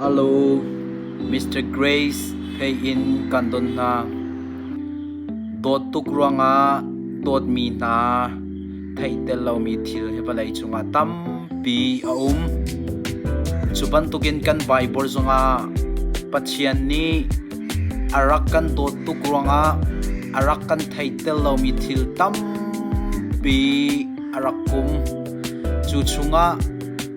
Hello, Mr. Grace hei in kan don hna. Dawt tuk ruangah dawtmi hna theih tel lomi thil he vawlei cungah tampi a um. Cu bantukin kan Bible zongah Pathian nih a rak kan dawt tuk ruangah a rak kan theih tel lomi thil tampi a rak um. Cu chungah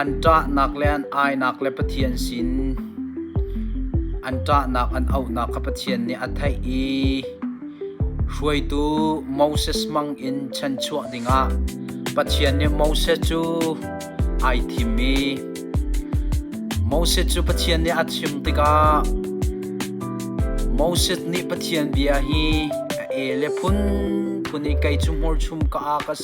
An ṭahnak le an ainak le Pathian sin an ṭahnak an auhnak kha Pathian nih a theih i hruaitu Moses hmangin chanchuah dingah Pathian nih Moses cu ai thim i Moses cu Pathian nih a chim tikah Moses nih Pathian bia hi a e le phunphun i kei cu hmurchum ka aa ka si.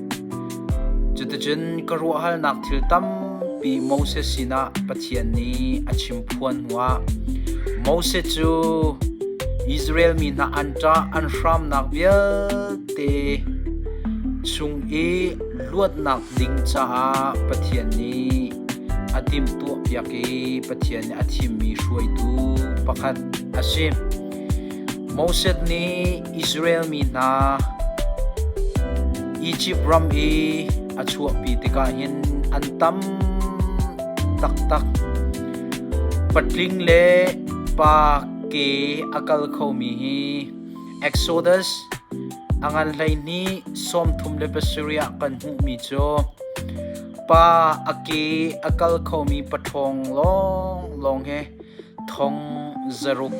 Cuticun ka ruahhalnak thil tampi Moses sinah Pathian nih a chim phuan hnuah Moses cu Israel mi hna an ṭah an hramnak vialte chung i luatnak ding caah Pathian nih a timhtuahpiak i Pathian nih a thimmi hruaitu pakhat a si. Moses nih Israel mi hna Izipt ram i a chuahpi tikah hin an tam taktak. Patling le pa ke a kal khomi hi Exodus a ngan hleihnih sawmthum le pasarih ah kan hmuhmi cu pa a ke a kal khomi pathawng lawnglawng he thong zaruk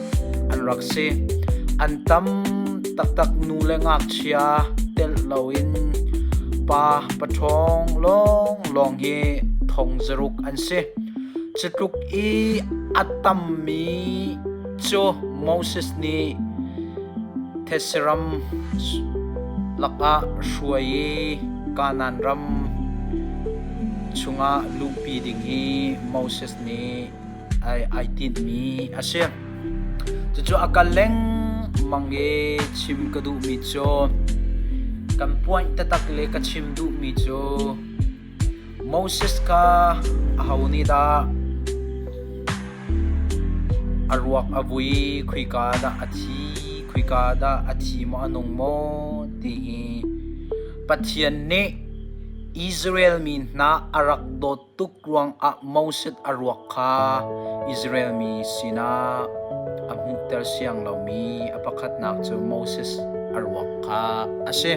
an rak si. An tam taktak nu le ngakchia telh loin pa paṭhawng lawnglawng hi thong zaruk an si. Cutluk i a tammi cu Moses nih Thesiram lakah hruai i Kanaan ram chungah luhpi ding hi Moses nih ai tinhmi a si. Cucu a kal lengmang i chim ka duhmi cu kan point taktak le ka chim duhmi cu Moses kha aho nih dah a ruak a vui khuika dah a thi khuika dah a thi maw a nung maw ti hi Pathian nih Israel mi hna a rak dawt tuk ruangah Moses a ruak kha Israel mi sinah a hmuhter siang lomi a pakhatnak cu Moses a ruak kha a si.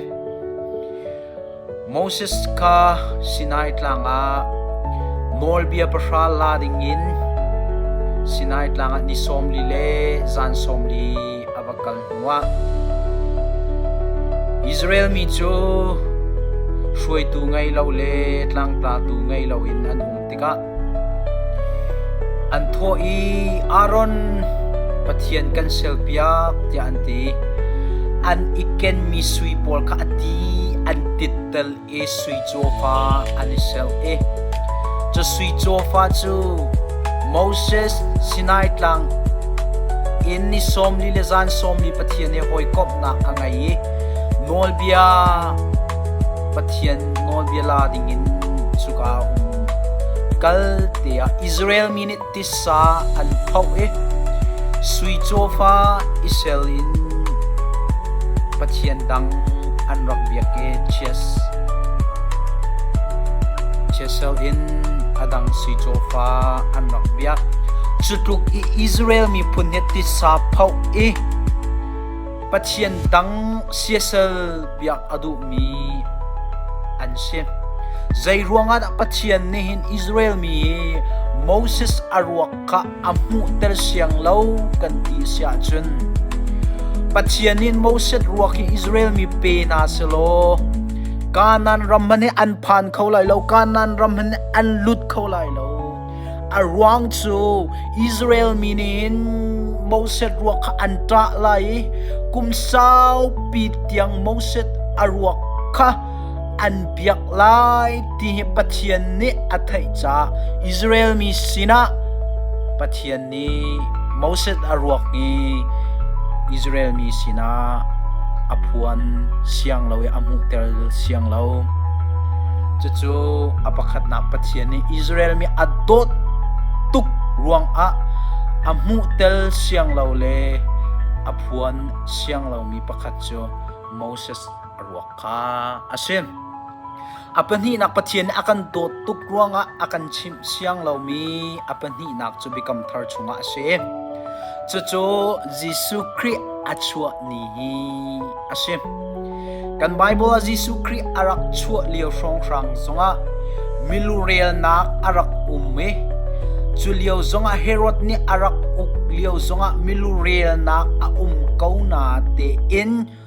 Moses kha Sinai tlang ah nawlbia pahra la dingin Sinai tlang ah ni sawmli le zan sawmli a va kal hnuah Israel mi cu hruaitu ngei lo le tlangtlatu ngei loin an um tikah an thawh i Aaron Pathian kan selpiak tiah an ti an i kenmi sui pawl kha a ti an tittel i sui cawfa an i ser i cu sui cawfa cu Moses Sinai tlang in ni sawmli le zan sawmli Pathian i hawikomhnak a ngei i nawlbia Pathian nawlbia la dingin cuka um kal te ah Israel mi nih tisa an phoh i sui cawfa i sel in pathian dang an rak biak i chias chiasel in a dang sui cawfa an rak biak cutluk i Israel miphun he tisa phoh i Pathian dang siasal biak a duhmi an si. Zeiruangah dah Pathian nih hin Israel mi hi Moses a ruak kha a hmuhter siang lo kan ti siah cun Pathian nih Moses ruak hi Israel mi pe na si law Kanaan ram hmanh hi an phan kho lai lo Kanaan ram hmanh hi an lut kho lai lo A ruang cu Israel mi nih Moses ruak kha an ṭah lai i kum saupi tiang Moses a ruak kha an biak lai ti hi Pathian nih a theih caah Israel mi sinah Pathian nih Moses a ruak i Israel mi sinah a phuan siang lo i a hmuhter siang lo. Cucu a pakhatnak Pathian nih Israel mi a dawt tuk ruangah a hmuhtel siang lo le a phuan siang lomi pakhat cu Moses a ruak. kha a si. A pahnihnak Pathian nih a kan dawt tuk ruangah a kan chimh siang lomi a pahnihnak cu Biakam Thar chungah a si. Cucu Jesuh Khrih a chuah ni hi a si. Kan Bible ah Jesuh Khrih a rak chuah lio hrawnghrang zongah milurelnak a rak um i cu lio zongah Herod nih a rak uk lio zongah milurelnak a um ko na tein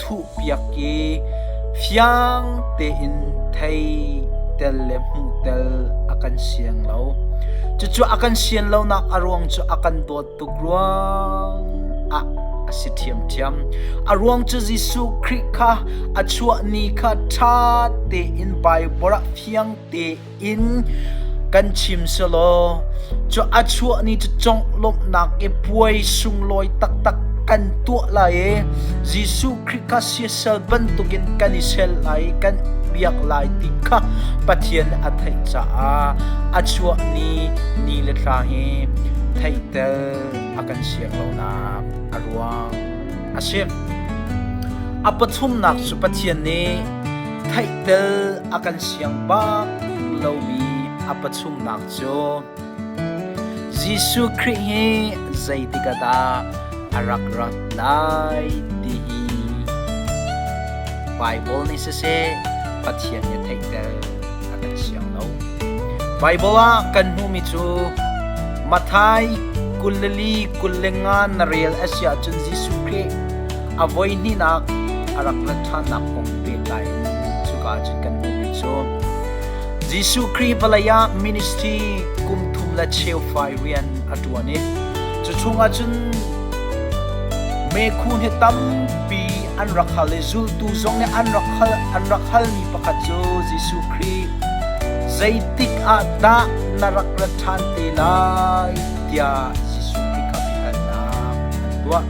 thuhpiak i fiang tein thei tel le hmuh tel a kan siang lo. Cucu a kan sian lonak a ruang cu a kan dawt tuk ruang ah a si ṭhiamṭhiam. A ruang cu Jesuh Khrih kha a chuah ni kha ṭha tein Baibal ah fiang tein in kan chim selaw cu a chuah ni cu conglawmhnak i puai sunglawi taktak kan tuah lai i Jesuh Khrih kha siasal bantukin kan i sel lai i kan biak lai ti kha Pathian nih a theih caah a chuah ni ni le thla hi theihtel a kan siak lonak a ruang a si. A pathumnak cu Pathian nih theihtel a kan siang bak lomi a pachungnak cu Jesuh Khrih hi zeitik ah dah a rak ra lai ti hi Bible nih siseh Pathian nih theihtel a kan siang lo. Bible ah kan hmuhmi cu Matthai kul le li kul le nga na rel a si ahcun Jesuh Khrih a voihnihnak a rak rat ṭhannak kong pehtlai in cuka ah cun kan hmuh mi cu Jesuh Khrih vawlei ah ministry kum thum le cheu fai rian a ṭuan i cu chungah cun meikhu hi tampi an rak hal i zultu zong nih an rak hal an rak hal mi pakhat cu Jesuh Khrih zeitik ah dah na rak rat ṭhan te lai tiah Jesuh Khrih kha biahalnak an tuah.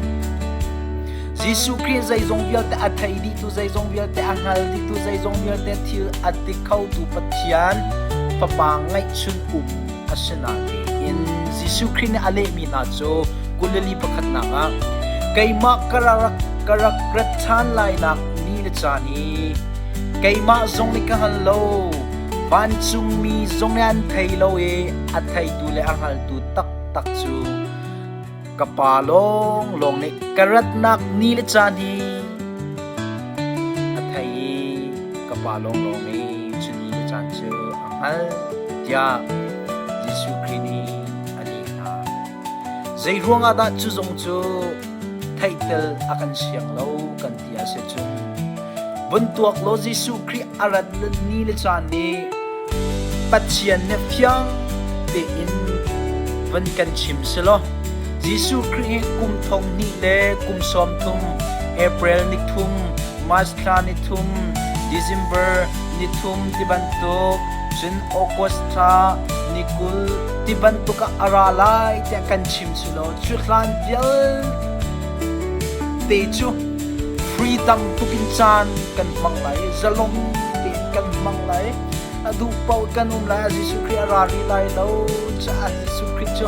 Jesuh Khrih zeizong vialte a thei dihtu zeizong vialte a hngal dihtu zeizong vialte thil a ti khotu Pathian Fapa ngeihchun um a si na tiin Jesuh Khrih nih a lehmi hna cu Galilee pakhatnak ah keimah ka ra ka rak rat ṭhan lainak ni le caan hi keimah zong nih ka hngal lo vancungmi zong nih an thei lo i a theitu le a hngaltu taktak cu ka pa lawnglawng nih ka ratnak ni le caan hi a thei i ka pa lawnglawng nih cu ni le caan cu a hngal tiah Jesuh Khrih nih a ni hna. Zei ruangah dah cu zong cu theihtel a kan siang lo kan ti a si cu vun tuak law Jesuh Khrih a rat ni le caan nih Pathian nih fiang tein van kan chim silo Jesuh Khrih hi kum thong hnih le kum sawm thum April ni thum March thla ni thum December ni thum tibantuk cun August thla ni kul ti bantuk a ra lai tiah kan chim silo cu hlan vial te cu free tamtuk in caan kan hmang lai zalong tein kan hmang lai a duh paoh kan um lai a Jesuh Khrih a rari lai lo caah Jesuh Khrih cu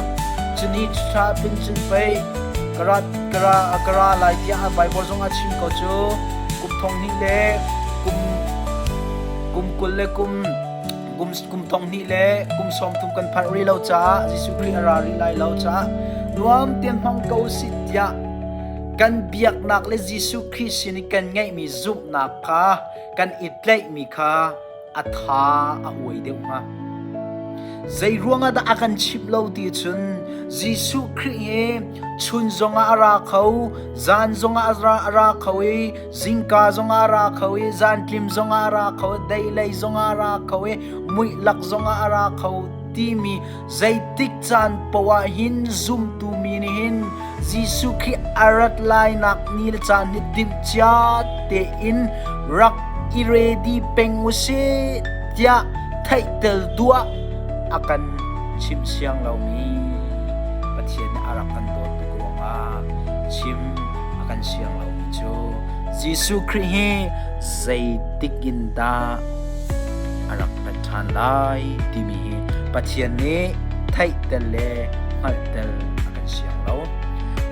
cuni ṭha pin cun pei kara kara kara lai tiah a Bible zong a chim ko cu kum thong hnih le kum kum kul le kum kum, kum tonghnih le kum sawmthum kan phanh rih lo caah Jesuh Khrih a ra rih lai lo caah nuam tein hmang ko sih tiah kan biaknak le Jesuh Khrih sin i kan ngeihmi zumhnak kha kan i tlaihmi kha a tha a huai deuh hnga. Zei ruangah dah a kan chip lo ti cun Jesuh Khrih hi chun zongah a ra kho, zan zongah a ra, a ra kho i Zingka zongah ra kho i zantlim zongah ra kho, deilei zongah ra kho i muihlak zongah ra kho timi zeitik caan poah hin zumtu mi nih hin Jesuh khi a rat lainak ni le caan hi timhcia tein rak i ready peng u sih tiah theihtel duah a kan chim siang lomi Pathian nih a rak kan dawt tuk ruangah chim a kan siang lomi cu Jesuh Khrih hi zeitik in dah a rak rat ṭhan lai timi hi Pathian nih theihtel le hngalhtel a kan siang lo.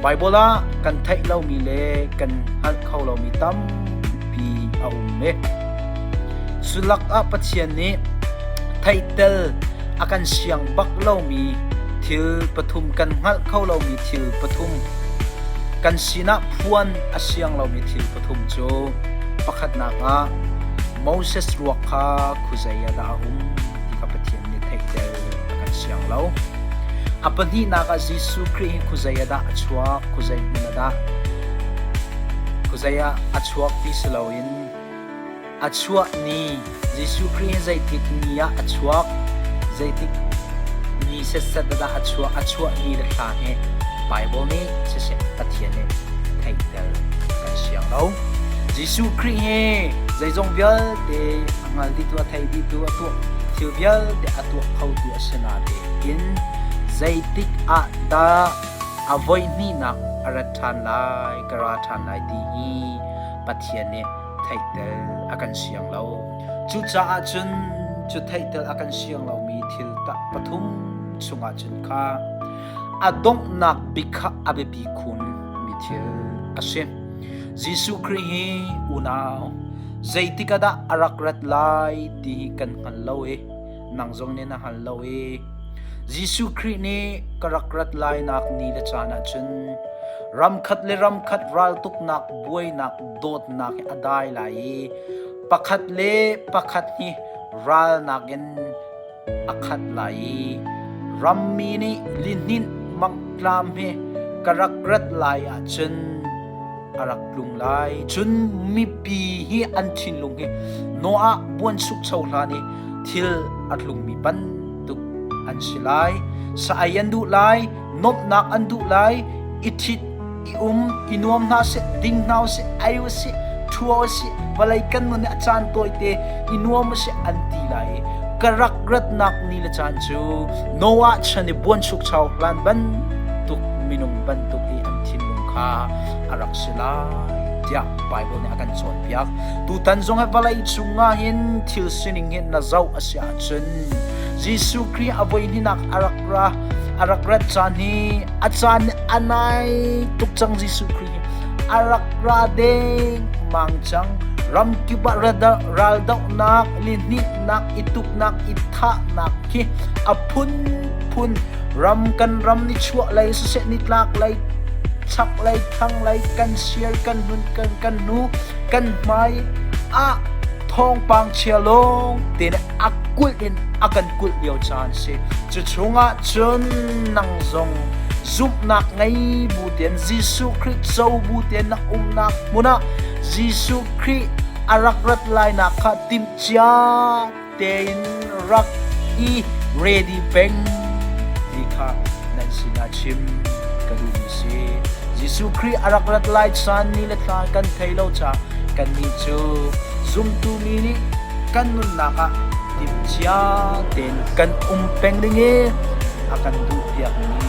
Baibal ah kan theih lomi le kan hngalh kho lomi tampi a um i sulak ah Pathian nih theihtel a kan siang bak lomi thil pathum kan hngalh kho lomi thil pathum Kan sinah phuan a siang lomi thil pathum cu pakhatnak ah Moses ruak kha khuazei ah dah a um ti kha Pathian nih theihter a kan siang lo. A pahnihnak ah Jesuh Khrih hi khuazei ah dah a chuak, khuazei hmun ah dah khuazei ah a chuak ti si loin A chuah ni Jesuh Khrih hi zeitik ni ah a chuak, zeitik ni setset dah a chuah, a chuah ni le hla hi Bible nih siseh Pathian nih theihter kan siang lo. Jesuh Khrih hi zeizong vialte a hngal ditu, a thei ditu, a tuah thil vialte a tuah khotu a si natein zeitik ah dah a voi hnihnak a rat ṭhan lai, ka ra ṭhan lai ti hi Pathian nih theihtel a kan siang lo. Cucaah cun cu theihtel a kan siang lomi thil pathum chungah cun kha a donghnak bik kha a biapi khun mi thil a si. Jesuh Khrih hi unau zeitik ah dah a rak rat lai ti hi kan hngal lo i nang zong nih na hngal lo i Jesuh Khrih nih ka rak rat lainak ni le caan ah cun ramkhat le ramkhat raltuknak buainak dawtnak a dai lai i pakhat le pakhat hi ralnak in a khat lai i rammi nih lihninh mangtlam he ka rak rat lai ah cun a rak tlung lai cun mipi hi an thinlung hi Noah buansukcho hlan i thil a tlungmi bantuk an si lai sa-ai an duh lai nomnak an duh lai i thit i um i nuam hna si ding hna si ai si thua si vawlei kan nun a caan tawite i nuam si an ti lai ka rak ratnak ni le caan cu Noah chan i buan suk chau hlan bantuk minung bantuk i an thinlung kha a rak si lai tiah Bible nih a kan cawnpiak. Tutan zong hi vawlei chungah hin thil sining hin na zoh a si ahcun Jesuh Khrih a voi hninak a rak ra a rak rat caan hi a caan a nai tuk cang Jesuh Khrih hi a rak ra deng mang cang ramkip ah raldohnak lihnitnak ituknak ithahnak khi a phun phun Ram kan ram ni chuah lei siseh nitlak lei chak lei thang lei kan sial kan nun kan kan nu kan hmai ah thawngpang chia lawng te ne a kulh in a kan kulh lio caan si cu chungah cun nang zong zumhnak ngei bu ten Jesuh Khrih co bu ten na umnak hmunah Jesuh Khrih a rak rat lainak kha timh cia tein rak i ready peng ti kha nan sinah chim ka duhmi si Jesuh Khrih a rak rat lai caan ni le thla kan thei lo ca kannih cu zumtu mi nih kan nunnak ah timhcia tein kan um peng ding i a kan duh piakmi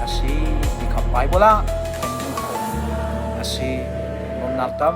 a si ti kha Baibal ah kan duh a si nunnak tam